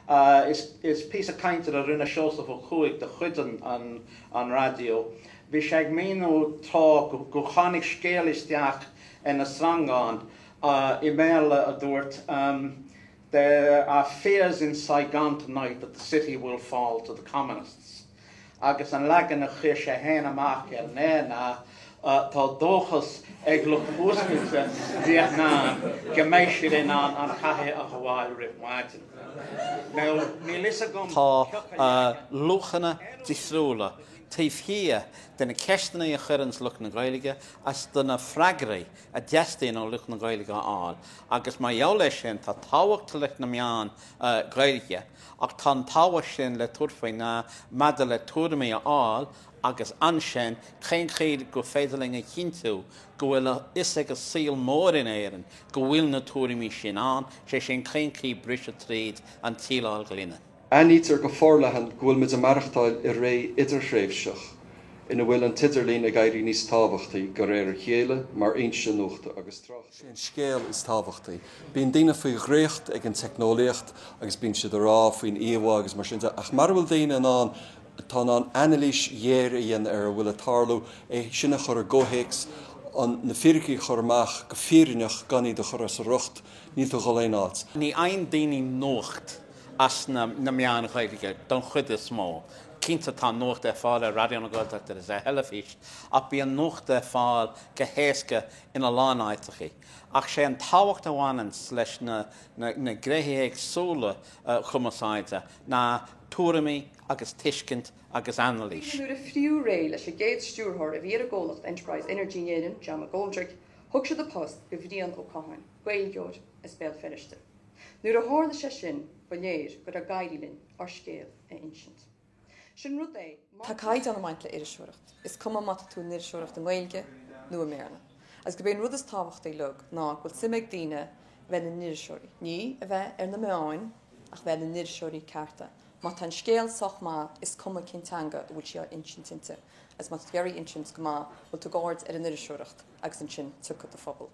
Is píosa cainte a rinne Seosamh Ó Cuaig de chuid an raidió. Bhí sé ag míniú tráth gur tháinig scéala isteach ar na sreangáin, i mBéarla a dúirt, There are fears in Saigon tonight that the city will fall to the communists. Agus an leagan a chuir sé féin amach ar an aer ná, Tá dóchas ag lucht fuascailte Vietnam go mbeidh siad in ann an chathair a ghabháil roimh mhaidin. Now, níl fhios agam cioca leagan. Tá luachanna difriúla taobh thiar de na ceisteanna a chuireanns lucht na Gaeilge agus de na freagraí a dteastaíonn ó lucht na Gaeilge a fháil agus mar gheall air sin tá tábhacht leis na meáin Ghaeilge Ach tá an dá ábhar sin le tabhairt faoi ndeara maidir le tuairimí a fháil agus ansin cén chaoi gur féidir linn a chinntiú go bhfuil a fhios ag an saol mór in Éirinn go bhfuil na tuairimí sin ann, sé sin cén chaoi le briseadh tríd an tsíleáil ghloine. Aithnítear go forleathan go bhfuil muid ag maireachtáil i ré idirthréimhseach ina bhfuil an t-idirlíon ag éirí níos tábhachtaí de réir a chéile mar fhoinse nuachta agus tráchta. Sé an scéal is tábhachtaí. Bíonn daoine faoi dhraíocht ag an teicneolaíocht agus bíonn siad ag rá faoin íomhá agus mar sin de, ach mara bhfuil daoine ann atá in ann anailís ghéar a dhéanamh ar a bhfuil ag tarlú, é sin a chur i gcomhthéacs, na fíricí a chur amach go fírinneach gan iad a chur as a riocht, níl tú ag dhul aon áit. Ní fhaigheann daoine nuacht as na meáin Ghaeilge den chuid is mó. Cinnte tá nuacht ar fáil ar Raidió na Gaeltachta agus ar theilifís ach bíonn nuacht ar fáil go héasca ina lán áiteachaí, ach sé an tábhacht a bhaineann leis na gnéithe éagsúla chumarsáide ná tuairimí agus tuiscint agus anailís. Nuair a fritheadh réidh leis an gcéad stiúrthóir a bhí ar an gcomhlacht Enterprise Energy in Éirinn, John McGoldrick, thug siad an post do Bhrian Ó Catháin, Gaeilgeoir as Béal Feirste. Nuair a tharla sé sin, ba léir go raibh ag éirí linn ár scéal a insint. Sin rud é, má tá caighdeán ag baint le iriseoireacht, is cuma má tá tú in iriseoireacht i nGaeilge nó i mBéarla. Agus gurb é an rud is tábhachtaí leo ná go bhfuil suim ag daoine a bheith ina n-iriseoirí, ní a bheith ar na meáin ach a bheith ina n-iriseoirí cearta. Má tá an scéal sách maith, is cuma cén teanga a bhfuil sé á insint inti, agus má tá tú ag iarraidh é a insint go maith, bhuel, tabhair aird ar an iriseoireacht agus ansin tiocfaidh do phobal.